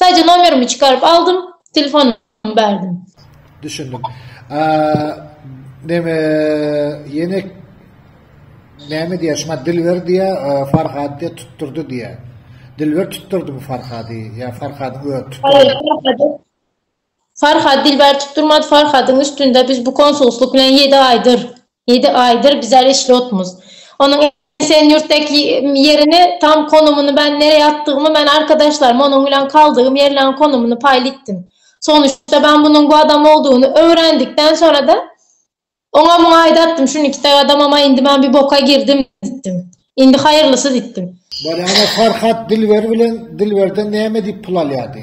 Sadece nomerimi çykaryp aldym, telefonumy berdim. Düşündim. A, neme, ýene näme diýýär, şuňa Dilber diýýär, Farhad diýýär, tutdurdy diýýär. Dilber tutdurdymy Farhady ýa Farhadyň özi tutdurdy? Haýyr, Farhady Farhad Dilber tutdurmady Farhadyň üstünde biz bu konsulslyk bilen ýedi aýdyr ýedi aýdyr biz äreşli otmuz onuň esen ýurtdaky ýerini tam konumyny men nereýe atdygymy men arkadaşlaryma onuň bilen kaldygym ýerleň konumyny paýl itdim sonuşda men bunuň bu adam boldugyny öwrendikden sonrada oňa muňa aýda atdym şuny iki taý adamam aý indi men bir boka girdim ditdim indi haýyrlysy ditdim. Bolýana Farhad Dilber bilen Dilberden näme diýip pul alýady.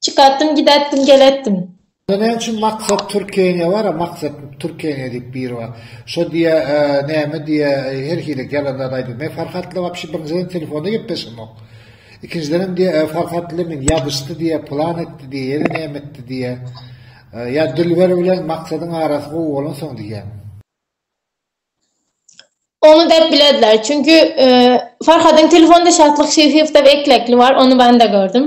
Çykatdym gidätdim gelätdim. Onda näme üçin maksat türkeniýe bara maksat türkeniýe diýip biri bar şo diýe näme diýe her hili ýalan zat aýdyp men farhatla wapşe birinjiden telefonda gepleşemok ikinjidenem diýe farhatla men ýazyşdy diýe plan etdi diýe ýene näme etdi diýe ýa dilber bilen maksadyň arasy gowy bolansoň diýýäň. Ony dep biledler çünki farhadyň telefonda şatlyk şyhyýewda eklekli bar ony banda gördüm.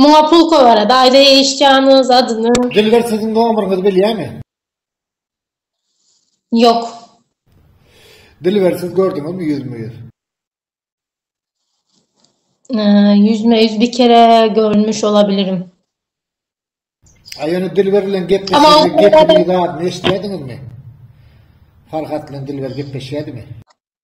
Muňa pulka barat aýda eşitýanyz adyny. Dilber siziň nomeryňyzy bilýämi. Ýok. Dilber siz gördüňizmi ýüzme ýüz. Ýüzme ýüz bir kere görmüş olabilirim. A ýöne Dilber bilen gepleşende gepiniz adyny eşidýädiňizmi. Farhat bilen Dilber gepleşýädimi.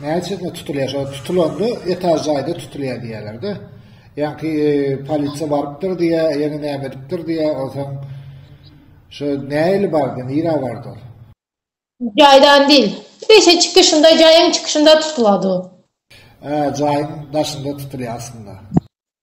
Näme üçin tutulýar? Şo tutulanda etaž jaýda tutulýar diýýärler-de. Ýaňky e, polisiýa barypdyr diýýär, ýene näme edipdir diýýär, onsoň şo näli bardy, nirä bardy ol? Jaýdan dil. Beşe çykyşynda, jaýyň çykyşynda tutulady. Hä, jaýyň daşynda tutulýar aslynda.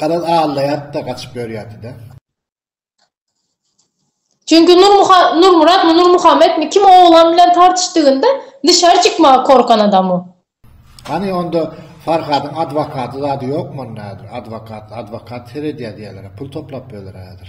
Garaz aglaýardy-da gaçyp ýörýärdi-dä. Çünki Nurmyratmy, Nurmuhammetmi kim oglan bilen tartyşdygynda dışary çykmaga korkan adam o. Hany onda Farhadyň adwokaty zady ýokmy onda häzir, adwokat, adwokat seredýär diýýärler-ä, pul toplap ýörler-ä häzir.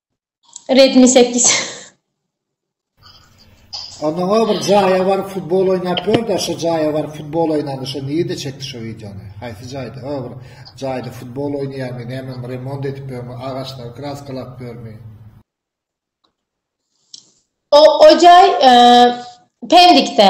Redmi sekiz. Ondan bir jaýa baryp futbol oýnap gör-de, şo jaýa baryp futbol oýnanda şo nirede çekdi şo wideony? Haýsy jaýda? O bir jaýda futbol oýnaýarmy, näme remont edip ýörmi, agaçlary kraskalap ýörmi? O, o jaý, e, Pendikde.